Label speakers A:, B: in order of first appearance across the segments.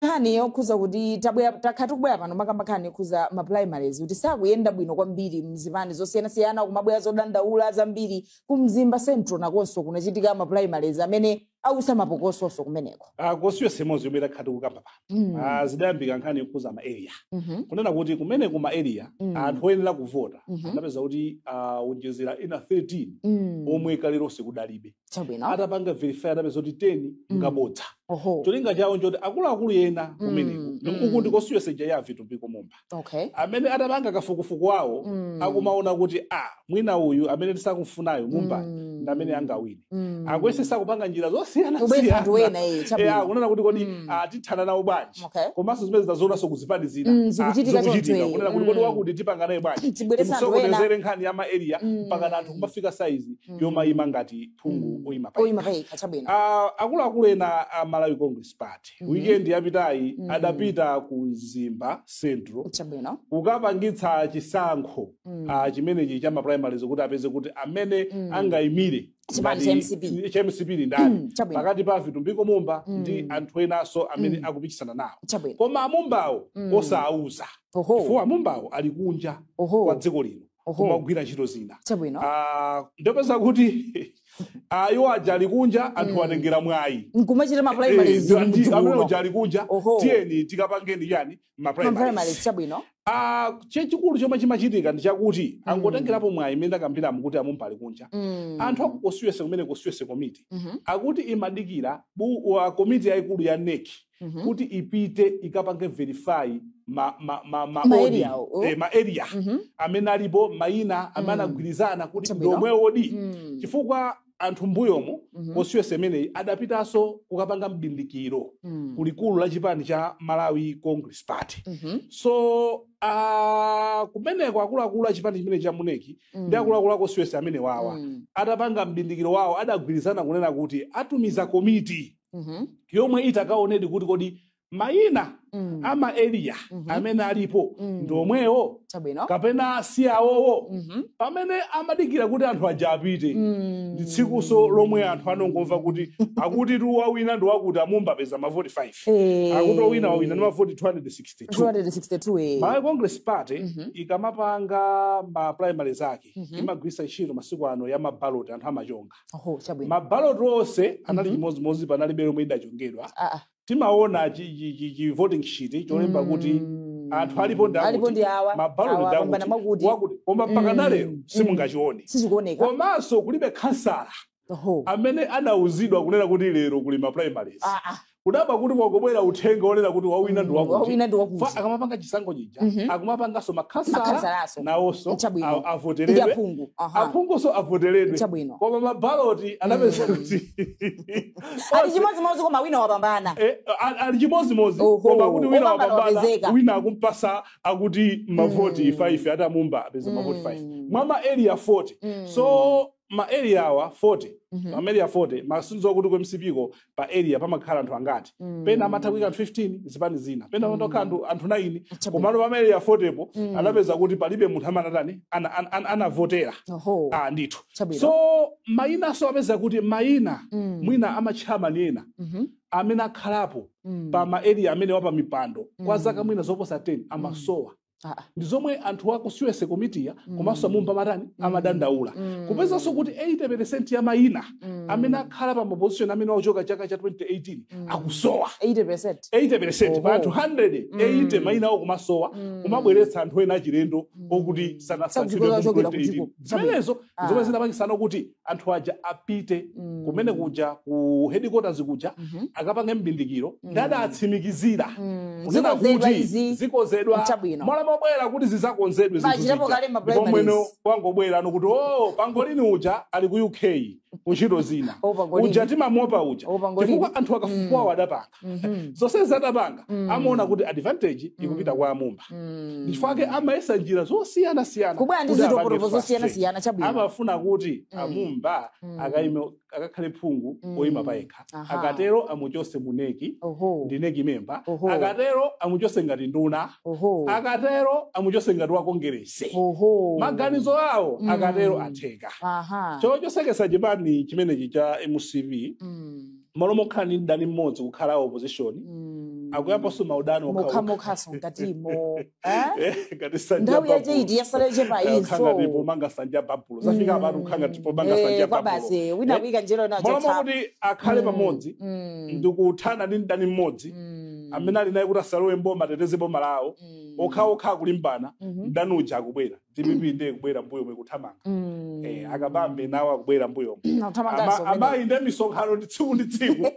A: nkhani yokhuza kuti tabwera takhala tikubwera pano timakamba nkhani yokhuza ma primaries kuti sakuyenda bwino kwambiri mzipani zosiyanasiyana kumabwera zodandaula zambiri ku mzimba central nakonso kunachitika ma primaries amene autsa mapokoso kumeneko Ah, constituency imodzi
B: yomwe takhala tikukamba pano Mm. Ah, zidayambika nkhani yokhuza ma area Mhm. kunena kuti kumeneko ma area Mm. anthu oyenera kuvota Mhm. anapeza kuti awonjezera ena 13 Mm. omwe kaleronse kudalibe chabwino atapanga verify anapeza kuti 10 ngabodza oho cholinga chawo nchoti akuluakulu ena Mm, kumeneko mm. ndi- uku ndi ku constituency ija ya vitumbiko mumba okay amene atapanga kafukufuku wawo Mm. akumaona kuti a mwina uyu amene tisakumfunayo mumba Mm. ndi amene angawine Mm. akuyesesa kupanga njira zosiyanasiyana ena eh, Eh, chabwino kunena kuti kodi Mm. ah, tithana nawo bwanji church Okay. komanso zimene tinazionaso ku zipani zina Mm, Ah, zikuchitika choncho zikuchitika
A: iye. kunena kuti kodi
B: Mm. wakuti tipanga naye bwanji tibweresa anthu ena timusokonezere nkhani ya ma area Mm. mpaka anthu kumafika saizi Mm. yomayima ngati phungu Mm. oyima pa oyima payekha chabwino Ah, akuluakulu ena a malawi congress party Mhm. weekend yapitayi Mm. adapita ku mzimba central chabwino kukapangitsa chisankho Mm. ah, chimenechi cha maprimaries kuti apeze kuti amene Mm. angayimire Chipani cha ngati- MCP. cha mcp ndi ndani Chabwino. pakati pa vitumbiko mumba ndi anthu enanso amene akupikisana nawo Chabwino. koma amumbawo osawauza Oho. chifukwa amumbawo ali kunja Oho. kwa dziko lino Oho. kumagwira ntchito zina Chabwino. Ah, ndiye popeza kuti ah, iwo aja ali kunja anthu atengera mwayi nkumachita mapulaimali Eh,
A: ndi- amene uja ali
B: kunja Oho. tiyeni tikapange chiyani ma primaries maprimary chabwino Ah, chachikulu chomwe chimachitika ndi chakuti angotengerapo mwayi imene ndakambiramo kuti amumba ali kunja Mm. anthu aku constituency kumeneko constituency committee Mhm, akuti imadikira bu- wa komiti yayikulu ya NEC mhm. kuti ipite ikapange verify ma, ma, ma, ma, Ma odi, area awo. eh, ma area Mhm, amene alipo mayina amene Mm. anagwirizana kuti Chabwino. ndomwe odi mm. chifukwa anthu mbuyomu Mhm. constituency imeneyi adapitanso kukapanga mbindikiro Mm. ku likulu la chipani cha malawi congress party Mhm. so uh, kumeneko akuluakulu a chipani chimenechi a mu NEC Mm. ndi akuluakulu a constituency amene wawa Mm. atapanga mbindikiro wawo adagwirizana kunena kuti atumiza komiti Mhm. yomwe ikaonedi kuti kodi mayina mm. a ma eliya mm -hmm. amene alipo mm. ndi omwewo kapena si awowo mm -hmm. pamene amadikira kuti anthu aja apite mm. ndi tsikunso lomwe anthu anongomva kuti akuti tu wawina ndi wakuti amumba apeza mavoti 5 hey. Eh. akuti owina wawina ndi mavoti 262, 262 hey. malawi congress party mm -hmm. ikamapanga ma primary zake mm -hmm. imagwiritsa ntchito masiku ano ma mabaloti anthu amachonga oh, mabaloti onse anali mm -hmm. chimodzimodzi panalibe lomwe lidachongedwa ah, ah. timaona chi, chi, chi, chi voting sheet cholemba kuti anthu alipo ndi Mm. Alipo akuti ndi awa, mabaloti awa,
A: ndi apambana akuti
B: wakuti. wakuti koma mpaka Mm, nalero mm. simungachione sizikuoneka komanso kulibe khansala Oho. amene anauzidwa kunena kuti lero kuli ma primaries Ah, ah. kudabwa kuti kwangobwera uthenga onena kuti wawina ndi Mm, wakuti wawina ndi wakuti. Fa- akamapanga chisankho chija Mhm. akumapanganso makhansala Makhansalaso. nawonso Chabwino. a- avoteredwe aphungu Aha. aphunguso avoteredwe Chabwino. koma mabaloti anapeza kuti ati
A: Onse- chimodzimodzi koma wina wapambana Eh, a-
B: ali chimodzimodzi Oho, koma akuti wina wopambana wapambana wapezeka. wina akumpasa akuti mavoti Mm. 5 akuti amumba apeza mavoti 5 Mm. mwa ma area 40 Mm. so ma area awa 40 Mhm. ma area 40 masomphenya akuti ku mcp ko pa area pamakhala anthu angati Mm. pena amatha kuika anthu 15 zipani zina pena Mm. amangokhala anthu 9 Chabwino. komano pa ma area 40 po Mm. anapeza kuti palibe munthu amene anatani ana- ana- ana- anavotera Oho. ah ndithu Chabwino. so mayinaso apeza kuti mayina mm. mwina a ma chairman ena mm -hmm. amene akhalapo mm. pa ma area amenewa pa mipando mm. kwa zaka mwina zoposa 10 mm. amasowa mm. Ah, ah. ndi zomwe anthu akusuese komiti ya mm. komanso amumba matani mm. amadandaula mm. kupezanso kuti 80% ya mayina mm. amene akhala pa maposition amenewa kuchoka chaka cha 2018 mm. akusowa 80%, 80% pa anthu 100 mm. 80 mayina awo kumasowa mm. kumabweretsa anthu ena achilendo mm. okuti sanasankhidwe zimenezo zomwe Ah. zinapangitsa kuti anthu aja apite Mm. kumene kuja ku headquarters kuja Mhm. akapange mbindikiro Mm. nde adawatsimikizira Mm. kunena Zikonzedwa kuti izi. zikonzedwa Chabwino. mwana mobwera kuti zizakonzedwe zinthu Pachitapo zija. kale ma Ndipo mwene primaries. wangobwera ndi okuti o pangolini uja ali ku uk kuntchito zina Oh, pangolini. uja timamuopa uja Oh, pangolini. chifukwa anthu akafukufukuwa adapanga Mhm. zonsezi adapanga Mm. amaona kuti advantage ikupita Mm. kwa amumba Mm. ndichifukwa ake amayesa njira zosiyanasiyana kubwera ndi kuti apange zitopotopo frustrate. zosiyanasiyana chabwino amafuna kuti Mm. amumba Mm. akaime akakhale phungu Mm. oyima payekha Aha. akatero amuchotse mu NEC oho ndi NEC member Oho. akatero amuchotse ngati nduna oho akatero amuchotse ngati wa kongeresi oho maganizo awo Mm. akatero atheka aha chochotseketsa chipani chimenechi cha mcp Mm. malo mokhala ndi mdani mmodzi kukhala a opposition Mm. akuyambanso maudani okhaokha mokhamokhaso
A: mkatimo Eh? ngati
B: nsanja nthawi yache ya babulo. iti yasala
A: yache pa Eh, ukhanga inso ndipo manga nsanja
B: ya babulo zafika Mm. apano ukhanga ndipo manga Eh, nsanja ya babulo basi wina Eh? kuika
A: nzeru nacho malo tsapo. mwakuti
B: akhale Mm. pamodzi Mm. ndi kuthana ndi mdani mmodzi Mm. amene ali naye kuti asalowe mboma ateteze boma lawo Mm. okhaokha akulimbana Mhm. mdani uja akubwera dpp nde kubwera mbuyomu kuthamanga Mm. eh, akabambe nawo akubwera mbuyomu Akuthamanga Ama- zomwe. amayi nde misonkhano ndi tsiku ndi tsiku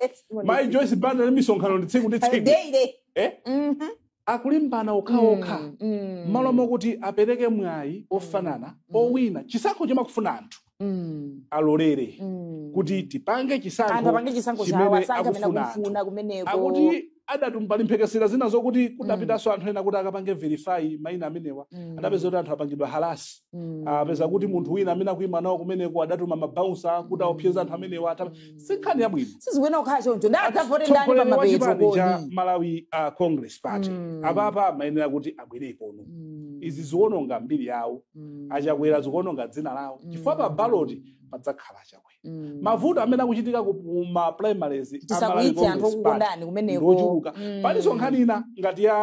B: mayi joyce banda ndi misonkhano ndi tsiku ndi tsiku Daily. eh? Mhm. akulimbana okhaokha Mm, mm. mmalo mokuti apereke mwayi ofanana owina chisankho chimakufuna anthu Mm. alolere Mm. kuti tipange anthu chisankho apange chisankho chimene chawo asankhe amene akufuna anthu. akufuna kumeneko akuti adatum- pali mphekesera zina zokuti kudapitanso anthu ena kuti akapange verify maina amenewa Mm. adapeza kuti anthu apangidwa halasi Mm. apeza kuti munthu wina amene akuima nawo kumeneko adatuma mabaunsa kuti aopseza anthu amenewa atapa si nkhani yabwino sizikuyenera kukhala choncho
A: ndi adzavote ndani Mtsogoleri wa pamapeto chipani cha kodi malawi
B: uh, congress party Mm. apapa amayenera kuti abwerekono Mm. izi ziwononga mbiri yawo Mm. achakwera zikuononga dzina lawo Mm. chifukwa pa baloti padzakhala achakwera Mm. mavuto amene akuchitika ku ku ma primaries a Malawi tisakwiyitse anthu Congress Party
A: okukondani kumeneko ngochuluka Mm. palinso nkhani
B: ina ngati ya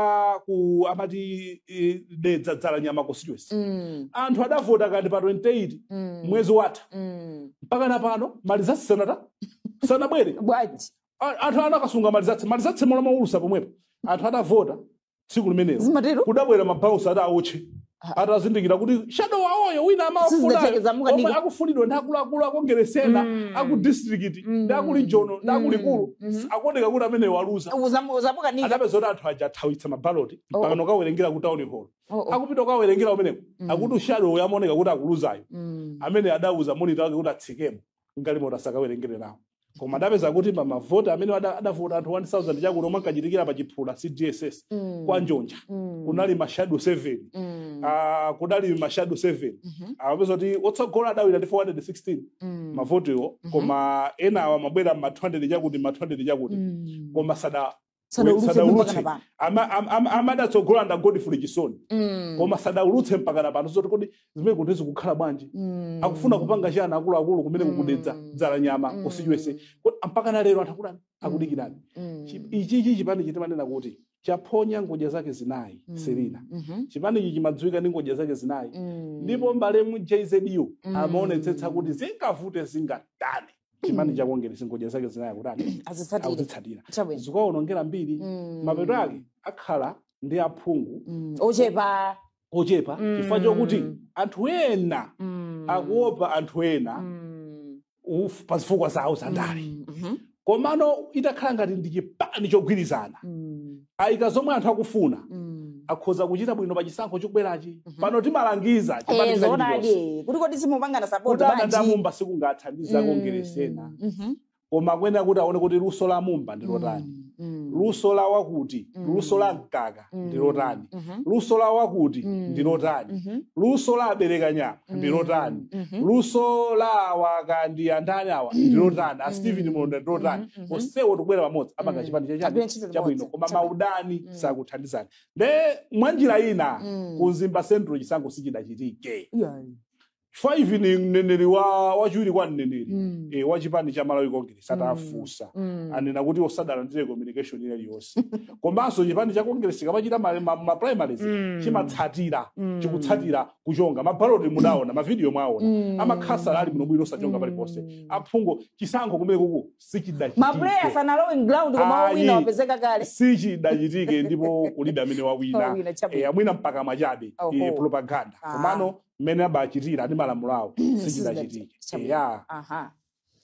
B: ku amati eh, dedza dzala nyama constituency Mm. anthu adavota kani pa 28 Mm. mwezi watha Mm. mpaka na pano malizatsi sanata sanabwere bwanji A-
A: anthu anakasunga
B: malizatsi malizatsi mmalo moulutsa pomwepo anthu atavota tsiku limenelo zimatero kudabwera mabaunsa ati aotche atazindikira kuti shadow wawoyo wina Sizidatheke, amawafuna zamuka omwe ndiko. akufunidwa ndi akuluakulu a kongeresi ena Mm. aku district Mm. ndi aku region ndi Mm. aku likulu Mhm. akuoneka kuti ameneyo waluza Uzamu- uzamukanika adapeza kuti anthu aja athawitsa mabaloti Oh. mpakana kukawerengera ku town hall Oh, oh. akupita ukawerengera umeneko Mm. akuti shadowyo amaoneka kuti akuluzayo Mm. amene adauza monita wake kuti atsikemo mgalimoto asakawerengere nawo koma adapeza kuti pa mavoti amene ada- adavota anthu 1000 chakuti omwe ankachitikira pa chiphula cdss Mm. kwa njonja Mm. kunali mashado 7 Mm. ah, kudali mashado 7 Mhm. amapeza kuti otsogola adawina ndi 416 Mm. mavotiwo Mhm. koma enawa amabwera ma 200 chakuti ma 200 chakuti Mm. koma sada sadaulutse mpaka sadaulutse napano Ama- am- am- amene adatsogola ndi a godfrey chisoni Mm, koma sadaulutse mpaka napano zoti kodi zimene kuti zikukhala bwanji mm, akufuna kupanga chani akuluakulu kumeneko ku dedza Mm. dzala nyama mm, constituency Kodi mpaka na lero anthu akudani akudikirani mm, Chi- ichi ichi chipani chi- timanena kuti chaphonya ngodya zake zinayi mm, selina mhm, chipani ichi chimadziwika ndi ngodya zake zinayi mm, ndipo malemu jzu Mm. amaonetsetsa kuti zingavute zingatani chipani Mm. cha kongeresi ngodya zake zinayi kutani azitsatire akuzitsatira chabwino zikuwaonongera mbiri Mm. mapeto ake akhala ndi aphungu Mm. ochepa
A: ochepa Mm.
B: chifukwa chokuti anthu ena Mm. akuopa anthu ena Mm. uf- pa zifukwa zawo zandale Mm. Mhm. komano itakhala ngati ndi chipani chogwirizana Mm. aika zomwe anthu akufuna Mm. akhoza kuchita bwino pa chisankho chikubwerachi pano timalangiza Eh, chipani china zoonadi
A: chilichonse kuti kodi simupangana support kudana bwanji? ndi a mumba
B: sikungathandize kongeresi ena Mm. Mhm. koma kuyenera kuti aone kuti luso la mumba ndi lotani Mm. Mm. luso la wakuti Mm. luso la mkaka Mm. ndi lotani Mhm. luso la wakuti Mm. ndi lotani Mhm. luso la a belekanyama ndi Mm. lotani Mhm. luso la awa kani andani awa ndi lotani a Mm. stephen malondera ndi lotani Mhm. onsewo tikubwera pamodzi apange Mm. chipani chachani Agwire ntchito chabwino limodzi. koma Chabwino. maudani Mm. sakuthandizani nde mwa njira ina Mm. ku mzimba central chisankho sichidachitike Yeah. chifukwa ine ndi mneneri wa wachiwiri kwa mneneri Mm. eh, wa chipani cha malawi congress Mm. atafunsa Mm. anena kuti osadalandire communication ina iliyonse komanso chipani cha congress chikamachita ma- ma- ma primaries Mm. chimatsatira Mm. chikutsatira kuchonga mabaloti mudaona mavidiyo mwaona Mm. amakhala ali bwinobwino osachonga Mm. paliponse aphungu chisankho kumene kuku mapuleya sichidachitike sanalowe
A: mground koma Ayi. owina wapezeka kale
B: sichidachitike ndipo kulibe amene wawina Wawina, chabwino. Eh, mwina mpaka mwachabe Oho. eh, propaganda Ah. komano mmene abachitira ndi malamulo awo sichidachitike Chabwino. ya Aha.